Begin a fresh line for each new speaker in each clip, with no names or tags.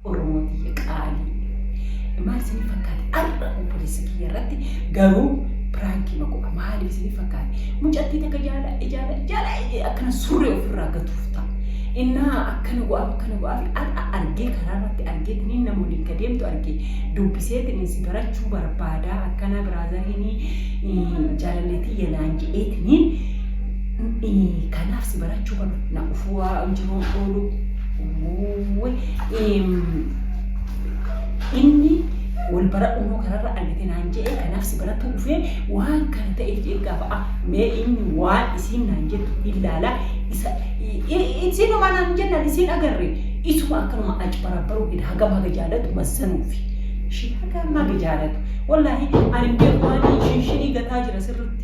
Oromoo tiyya qaalii. Maal isinii fakkaate arra obboleessa kiyya irratti garuu piraankiima godha maaliif isinii fakkaate mucattii takka jaala ijaala jaala ijee akkana surree ofirraa gatuuf ta'a innaa akkana go'aaf akkana go'aaf arra argee karaa irratti argee tiniin nama waliin ka deemtu argee dubbisee tiniin si barachuu barbaadaa akkanaa biraazariinii jaalalleetii yanaan jedhee tiniin kanaaf si barachuu kana na ufuu waa jiruu ooluu Uuuy, eem, inni wal baradhu immoo kanarra argite naan jedhe kanaaf si baratu dhufee waan kana ta'eef jedhe gaafa ah mee inni waan isiin naan jettu ilaala isa i- i- isinuma naan jennaan isiin agarre isuma akkanuma aci barabbaruu jedha hagam haga jaalatu mazzanuufi ishii hagam haga jaalatu wallaahi ani beeku waan shinshinii gataa jira sirritti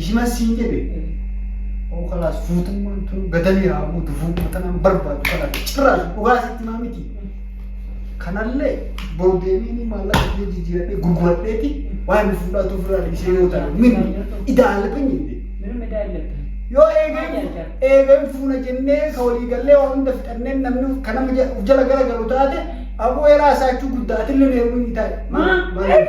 Ishimas siin jedhe
oo kalaas fuutummaan tun gadanii haa buutu fuudhuma tanaan barbaadu kalaas cirraas dhugaa sitti maa miti. Kanallee boru deemee ni maallaqa kiyya jijjiiradhee gurguradheeti waan inni fuudhaatu ofirraa dhiisee yoo ta'e mini idaa alabin jende. ምንም እዳ የለብህም።
Yoo eegan
eegan fuuna jennee ka walii gallee waa hunda fixanneen namni ka nama ja- of jala gara galu taate aboo eraa isaachuu guddaa atillee neerumii ni taa'e. Maal- maal-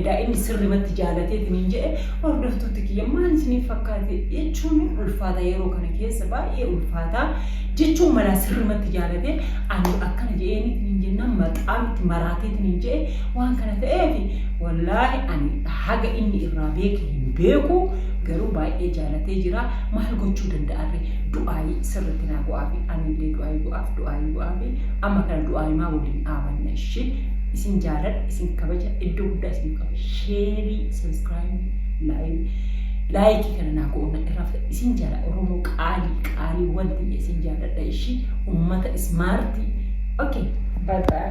Edaa inni sirrimatti jaalateetiniin jedhe hordoftoota kiyya maal isiniif fakkaate jechuun ulfaata yeroo kana keessa baay'ee ulfaata jechuun malaa sirrimatti jaalate ani akkana jedheeniitiniin jennaan maqaa miti maraateetiniin jedhe waan kana ta'eef wallaahi ani haga inni irraa beeke hin beeku garuu baay'ee jaalatee jira maal gochuu danda'arre du'aayii sirritti naa go'aafi anillee du'aayii go'aaf du'aayii go'aafi amma kana du'aayimaa waliin dhaabanna ishii isin jaaladha isin kabaja iddoo guddaa isin qaba sheerii sabiskiraayimii laayii laayikii kana naa goona irraa fudha isin jaala oromoo qaalii qaalii wanti ija isin jaalladha ishii ummata ismaartii okay bye bye